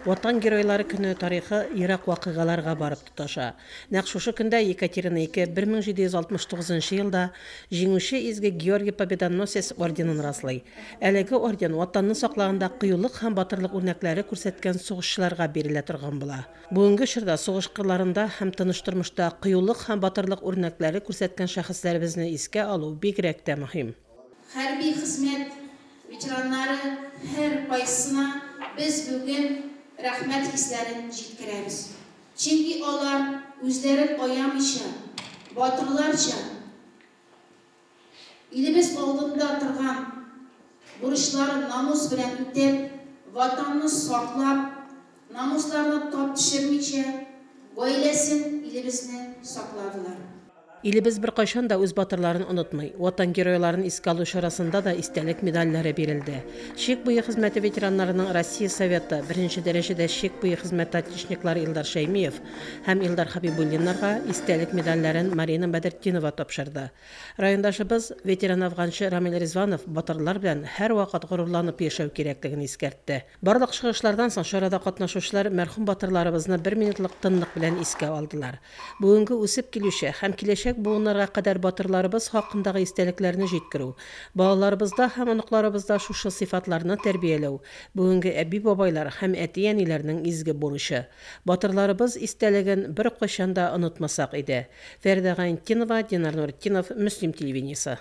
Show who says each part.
Speaker 1: Ватан Геройлары көне тарихы ерак вакыйгаларга барып тоташа. Нәкъ шушы көндә, Екатерина II 1769 нчы елда Җиңүче Изге Георгий Победоносец орденын раслый. Әлеге орден Ватанны саклаганда кыюлык һәм батырлык үрнәкләре күрсәткән сугышчыларга бирелә торган була. Бүгенге чорда сугыш кырларында һәм тыныч тормышта кыюлык һәм батырлык үрнәкләре күрсәткән шәхесләребезне искә алу бигрәк тә мөһим. Хәрби
Speaker 2: хезмәт ветераннары һәркайсына без бүген рәхмәт хисләрен җиткерәбез. Чөнки алар үзләрен аямыйча, батырларча илебез алдында торган бурычларын намус белән үтәп, Ватанны саклап, Намусларына тап төшермичә, гаиләсен, илебезне сакладылар. Илебез
Speaker 1: беркайчан да үз батырларын онытмый. Ватан геройларын искә алу чарасында да истәлек медальләре бирелде. Чик буе хезмәте ветераннарының Россия Советы, беренче дәрәҗәдә Чик буе хезмәте отличниклары Илдар Шәймиев һәм Илдар Хәбибуллиннарга истәлек медальләрен Марина Бәдертдинова тапшырды. Райондашыбыз, ветеран-афганчы Рамил Ризванов батырлар белән һәрвакыт горурланып яшәү кирәклеген искәртте. Барлык чыгышлардан соң чарада катнашучылар мәрхүм батырларыбызны бер минутлык тынлык белән искә алдылар. Бүгенге үсеп килүче һәм киләчәк буыннарга кадәр батырларыбыз хакындагы истәлекләрне җиткерү, балаларыбызда һәм оныкларыбызда шушы сыйфатларны тәрбияләү, бүгенге әби-бабайлар һәм әти-әниләрнең изге бурычы. Батырларыбыз истәлеген беркайчан да онытмасак иде. Фәридә Гайнтдинова, Динар Нуретдинов, Мөслим телевидениесе.